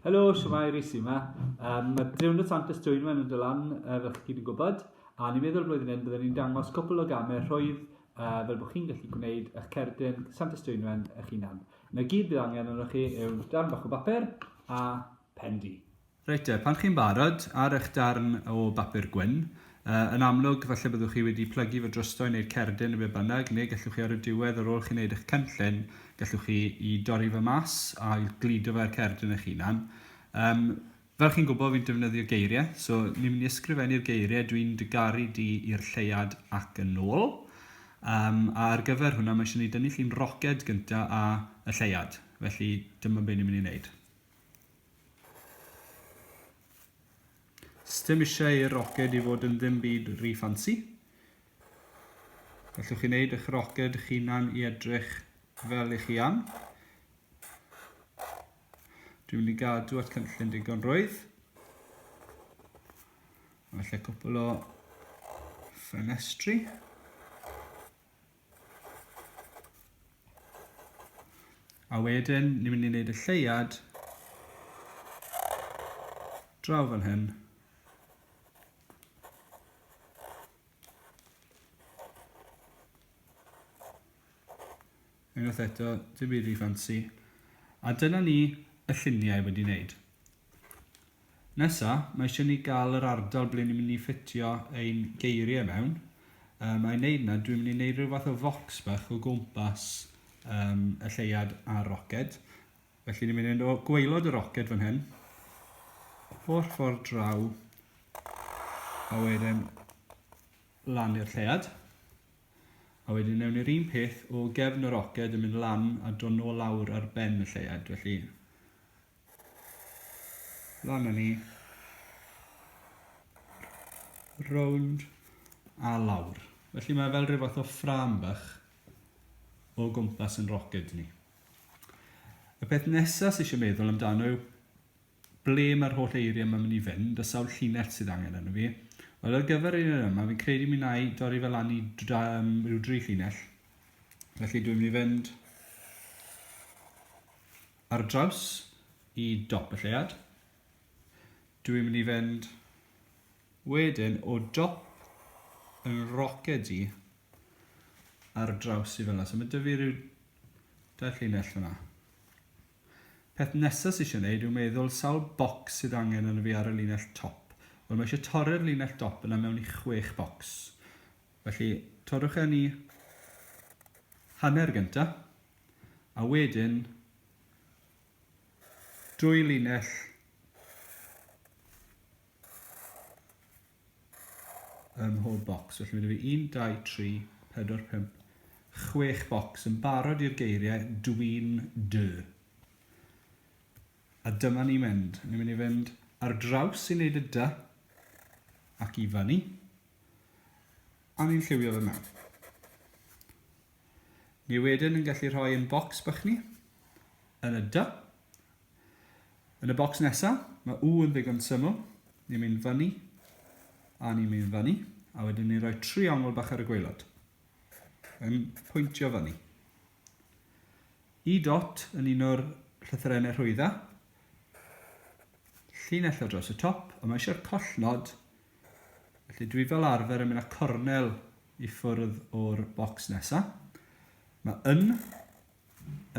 Helo, siwmai, Rhys yma. Um, mae Diwrnod Sant Ys Dwynwen yn dod lan, uh, fel chi gyd yn gwybod, a ni'n meddwl blwyddyn hyn byddwn ni'n dangos cwpl o gamau rhwydd uh, fel bod chi'n gallu gwneud eich cerdyn Sant Ys Dwynwen eich hunan. Mae gyd bydd angen arnoch chi yw darn bach o bapur a pen di. Reit te, pan chi'n barod, ar eich darn o bapur gwyn, Yn amlwg, falle byddwch chi wedi plygu fy drysdo i wneud cerdyn neu be bynnag, neu gallwch chi ar y diwedd, ar ôl chi wneud eich cynllun, gallwch chi i dorri fo mas a gludo fo i'r cerdyn eich hunan. Um, fel chi'n gwybod, fi'n defnyddio geiriau, so ni'n mynd i ysgrifennu'r geiriau dwi'n dy garu di i'r lleiad ac yn ôl. Um, a ar gyfer hwnna, mae eisiau ni dynnu llun roced gyntaf a y lleiad, felly dyma beth ni'n mynd i wneud. Sdim eisiau i'r roced i fod yn ddim byd ry ffansi. Gallwch chi wneud eich roced eich hunan i edrych fel i chi am. Dwi'n mynd i gadw at cynllun digon rwydd. Felly cwpl o ffenestri. A wedyn, ni'n mynd i wneud y lleiad draw fan hyn. Unwaith eto, dim byd rhy fancy. A dyna ni y lluniau wedi wneud. Nesa, mae eisiau ni gael yr ardal ble ni'n mynd i ffitio ein geiriau mewn. Um, a'i wneud na, dwi'n mynd i wneud rhyw fath o fox bach o gwmpas um, y lleiad a'r roced. Felly ni'n mynd o gweilod y roced fan hyn, o'r ffordd draw, a wedyn lan i'r lleiad. A wedyn newn ni'r un peth o gefn y roced yn mynd lan a dod nôl lawr ar ben y lleiad. Felly Lan â ni. Rownd a lawr. Felly mae fel rhyw fath o ffram bach o gwmpas yn roced ni. Y peth nesaf sy'n eisiau meddwl amdano yw ble mae'r holl eiriau mae'n mynd i fynd, y sawl llinell sydd angen yno fi. Wel, ar gyfer un o'r yma, fi'n credu mi na i dorri fel lan i um, rhyw dri llinell. Felly dwi'n mynd i fynd ar draws i dop y lleuad. Dwi'n mynd i fynd wedyn o dop yn roced i ar draws i fel So mae dyfu rhyw dair llinell fyna. Peth nesaf sy'n eisiau gwneud yw meddwl sawl bocs sydd angen yn y fi ar y linell top. Wel mae eisiau torri'r linell dop yna mewn i chwech bocs. Felly torrwch e ni hanner gyntaf. a wedyn dwy linell ym mhob bocs. Felly mae yna fi 1, 2, 3, 4, 5, 6 bocs yn barod i'r geiriau dwi'n dy. A dyma ni mynd. Ni'n mynd i fynd ar draws i wneud y dy ac i fyny. A ni'n lliwio fe mewn. Ni wedyn yn gallu rhoi yn bocs bych ni, yn y dy. Yn y bocs nesaf, mae u yn ddigon syml. Ni'n mynd fyny, a ni'n mynd fyny, a wedyn ni'n rhoi triongl bach ar y gweilod. Yn pwyntio fyny. I dot yn un o'r llythyrennau rhwydda. Llinell o dros y top, a mae eisiau'r collnod Felly dwi fel arfer yn mynd â cornel i ffwrdd o'r bocs nesa. Mae yn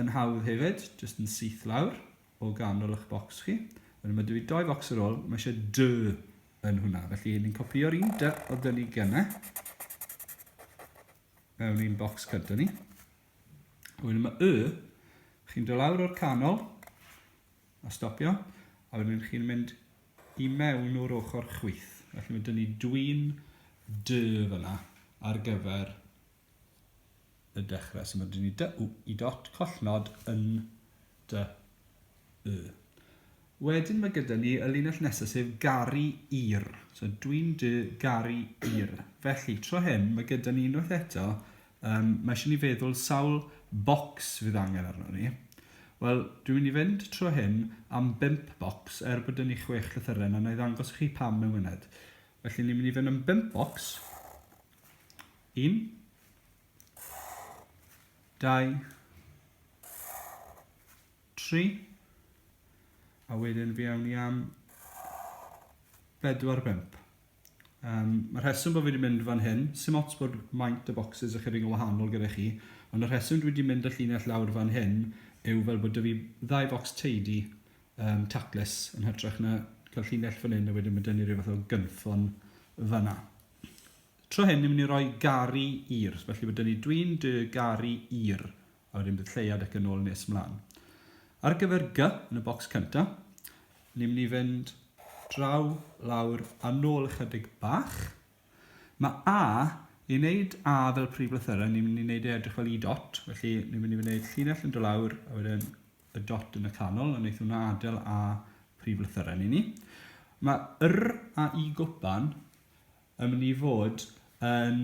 yn hawdd hefyd, jyst yn syth lawr o ganol eich bocs chi. Wedyn mae dwi doi focs ar ôl, mae eisiau dy yn hwnna. Felly ni'n copio'r un dy o dyn ni gynnau mewn i'n bocs cyda ni. Wedyn mae y, chi'n dod lawr o'r canol, A stopio, a wedyn chi'n mynd i mewn o'r ochr chwith. Felly mae dyn ni dwi'n dy fyna ar gyfer y dechrau. So mae dyn ni dy w i dot collnod yn dy y. Wedyn mae gyda ni y linell nesaf sef garu i'r. So dwi'n dy garu i'r. Felly, tro hyn, mae gyda ni unwaith eto Yym, mae eisiau ni feddwl sawl bocs fydd angen arnon ni. Wel, dwi'n mynd i fynd trwy hyn am bump bocs, er bod 'da ni chwech llythyren, a na i ddangos i chi pam mewn myned. Felly, ni'n mynd i fynd am bump bocs. Un. Dau. Tri. A wedyn fi awn ni am bedwar bump. Um, mae'r rheswm bod fi wedi mynd fan hyn, sy'n ots bod maint y boxes ychydig yn wahanol gyda chi, ond y rheswm dwi wedi mynd y llinell lawr fan hyn yw fel bod dy fi ddau box teidi um, taclus yn hytrach na cael llinell fan hyn a wedyn mae dyn ni rhyw fath o gynffon fanna. Tro hyn, ni'n mynd i roi gari i'r, felly bod dyn ni dwi'n dy gari i'r a wedyn bydd lleiad ac yn ôl nes mlaen. Ar gyfer G, yn y bocs cynta, ni'n mynd i fynd draw, lawr a nôl ychydig bach. Mae A, i wneud A fel prif lythyrau, ni'n mynd i wneud ei edrych fel i dot, felly ni'n mynd i wneud llinell yn do lawr a wedyn y dot yn y canol, a wneud hwnna adael A prif lythyrau ni ni. Mae yr a i gwpan yn mynd i fod yn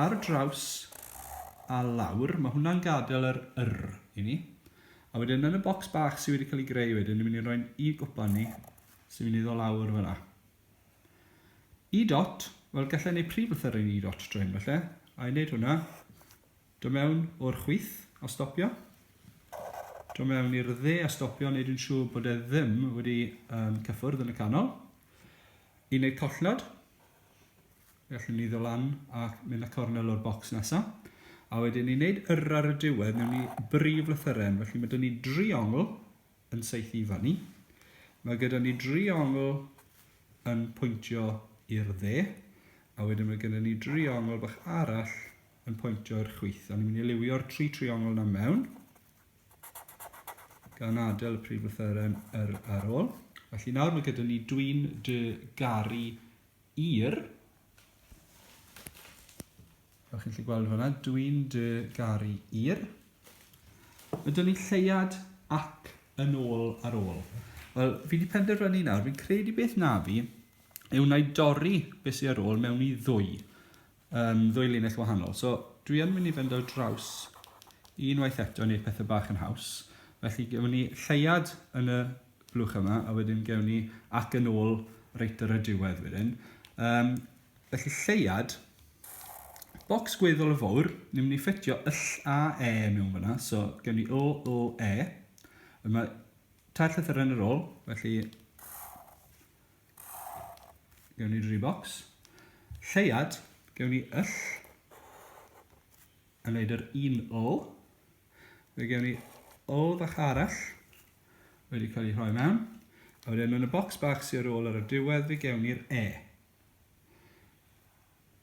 Ar draws a lawr, mae hwnna'n gadael yr yr i ni. A wedyn yn y bocs bach sydd wedi cael ei greu wedyn, ni'n mynd i roi'n i gwpan ni, sy'n mynd i ddod lawr fyna. E dot, wel gallai wneud prif lythyr yn e dot dro hyn felly, a i wneud hwnna, do mewn o'r chwith a stopio, do mewn i'r dde a stopio, wneud yn siŵr bod e ddim wedi um, cyffwrdd yn y canol, i wneud collnod, Felly ni ddo lan ac mynd a cornel o'r bocs nesa. A wedyn ni wneud yr ar y diwedd, newn ni brif lythyren. Felly mae dyn ni driongl yn seithi i fan ni. Mae gyda ni driongl yn pwyntio i'r dde. A wedyn mae gyda ni driongl bach arall yn pwyntio i'r chwyth. A ni'n mynd i liwio'r tri triongl yna mewn. Gan adael y prif lythyren yr ar ôl. Felly nawr mae gyda ni dwi'n dy garu Yr. Fel chi'n lli gweld fyna, dwi'n dy garu i'r. Ydyn ni lleiad ac yn ôl ar ôl. Wel, fi wedi penderfynu nawr, fi'n credu beth na fi yw wna i dorri beth sydd ar ôl mewn i ddwy. yn ddwy linell wahanol. So, dwi yn mynd i fynd ar draws unwaith eto i wneud pethau bach yn haws. Felly, gewn ni lleiad yn y blwch yma, a wedyn gewn ni ac yn ôl reit ar y diwedd wedyn. Um, felly, lleiad, bocs gweddol o fawr, ni'n mynd i ffitio yll a e mewn fyna, so gewn ni o, o, e. Yma, tair llythyr yn yr ôl, felly Gewn ni dri bocs. Lleiad, gewn ni yll. A wneud yr un ol. Fe gewn ni ol fach arall. Wedi cael ei rhoi mewn. A wedyn yn y bocs bach sy'n ar ôl ar y diwedd fe gewn ni'r E.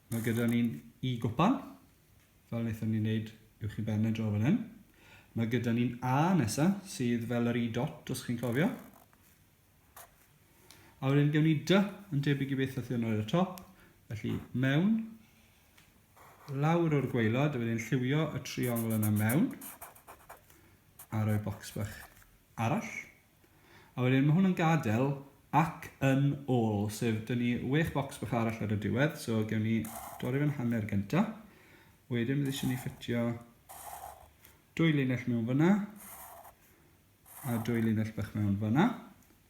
Mae gyda ni'n i gwpan. Fel wnaethon ni'n neud i'w chi ben y dro fan hyn. Mae gyda ni'n A nesa sydd fel yr i dot os chi'n cofio. A wedyn gewn ni dy yn debyg i beth oedd ar y top. Felly mewn, lawr o'r gweilod, a wedyn lliwio y triongl yna mewn, a rhoi bocs bach arall. A wedyn mae hwn yn gadael ac yn ôl, sef dyn ni wech bocs bach arall ar y diwedd, so gewn ni dorri fe'n hanner gynta. Wedyn bydd eisiau ni ffitio dwy linell mewn fyna, a dwy linell bach mewn fanna.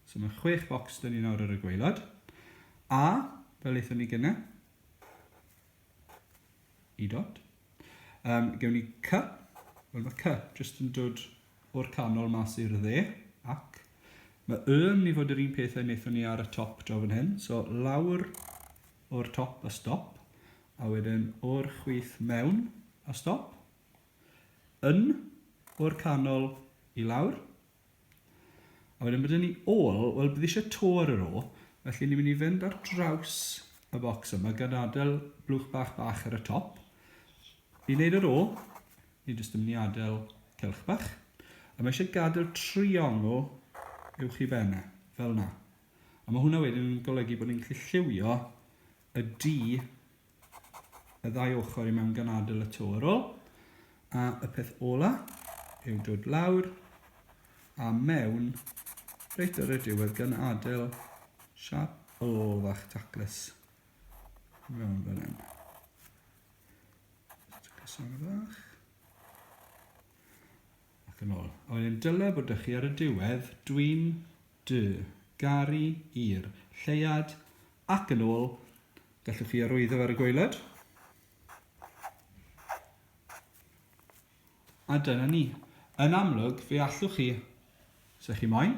So mae chwech bocs dyn ni nawr ar y gweilod. A, fel eithon ni gyna, i dot. Um, gewn ni cy, wel mae cy jyst yn dod o'r canol mas i'r dde, ac mae y yn mynd i fod yr un peth a wnaethon ni ar y top draw fan hyn. So lawr o'r top a stop, a wedyn o'r chwith mewn a stop. Un o'r canol i lawr. A wedyn bod ni ôl, wel bydd eisiau to ar yr o, felly ni'n mynd i fynd ar draws y bocs yma gan adael blwch bach bach ar y top. I wneud yr o, ni jyst yn mynd i adael celch bach. A mae eisiau gadael triongl i'w chi benne, fel yna. A mae hwnna wedyn yn golygu bod ni'n gallu lliwio y du y ddau ochr i mewn gan adael y to ar ôl. A y peth ola yw dod lawr a mewn reit ar y diwedd gan adael siap ôl fach taclus mewn fel hyn. Taclus fach. Ac yn ôl. A wedyn dyle bod 'da chi ar y diwedd, dwi'n, dw, garu, i'r, lleuad, ac yn ôl, gallwch chi arwyddo ar y gwaelod. A dyna ni. Yn amlwg, fe allwch chi, os ydych chi moyn,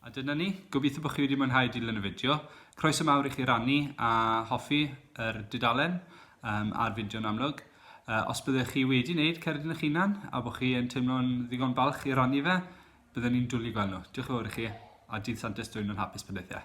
A dyna ni, gobeithio bod chi wedi mwynhau dilyn y fideo. Croeso mawr i chi rannu a hoffi yr dudalen um, a'r fideo yn amlwg. Uh, os byddwch chi wedi wneud cerdyn eich hunan a bod chi yn teimlo'n ddigon balch i rannu fe, byddwn ni'n dwlu gweld nhw. Diolch yn fawr i chi a dydd Santes dwy'n yn hapus pendeithiau.